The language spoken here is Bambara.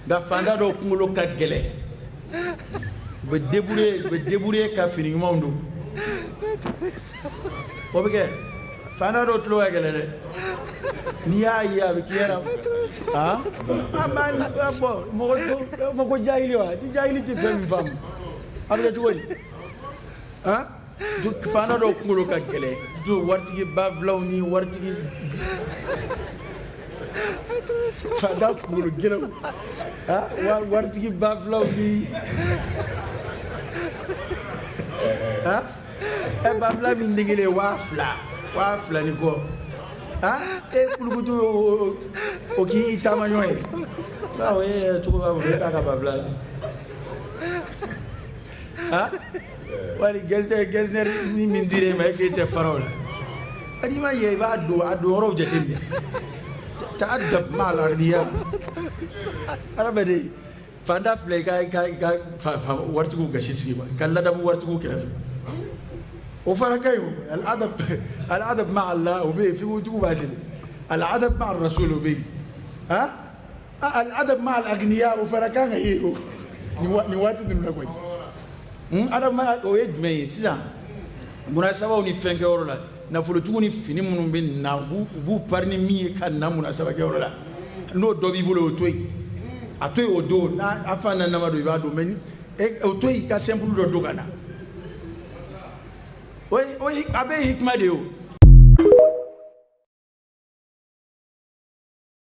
nka fanda dɔw kunkolo ka gɛlɛ u bɛ débrouiller u bɛ débrouiller ka fini ɲumanw don o bɛ kɛ fanda dɔw tulo ka gɛlɛ dɛ n'i y'a ye a bɛ k'i yɛrɛ han an b'a bɔ mɔgɔ mɔgɔ jahili wa ni jahili tɛ fɛn min faamu a bɛ kɛ cogo di han. fanda dɔw kunkolo ka gɛlɛn jo waritigi babilaw ni waritigi fanda kunkolo gɛlɛnw waritigi babilaw ni ɛ babila min degelen waa fila waa fila ni kɔ e kulukutu o k'i taama ɲɔgɔn ye bawo e cogo b'a bolo e k'a ka babila la Wali gɛsinɛri ni min dir'e ma e k'e tɛ fara o la i ma ye i b'a don a don yɔrɔw jate minɛ ta'adab ma al'agniya adamaden fanda filɛ i ka waritigiw gasi sigi ma ka ladamu waritigiw kɛrɛfɛ o fana ka ɲi o al'adab ma Ala o bɛ yen fitigiw b'a sigi al'adab ma rasul o bɛ yen al'adab ma al'agniya o fana kan ka ye o nin waati ninnu na koyi adab ma o ye jumɛn ye sisan munasabaw ni fɛn kɛyɔrɔ la nafolotigiw ni fini minnu bɛ na u b'u pari ni min ye ka na munasaba kɛyɔrɔ la n'o dɔ b'i bolo o to yen a to yen o don n'a a fa na nama don i b'a don mɛ o to yen i ka sɛnpulu dɔ don ka na o a bɛ hikima de ye o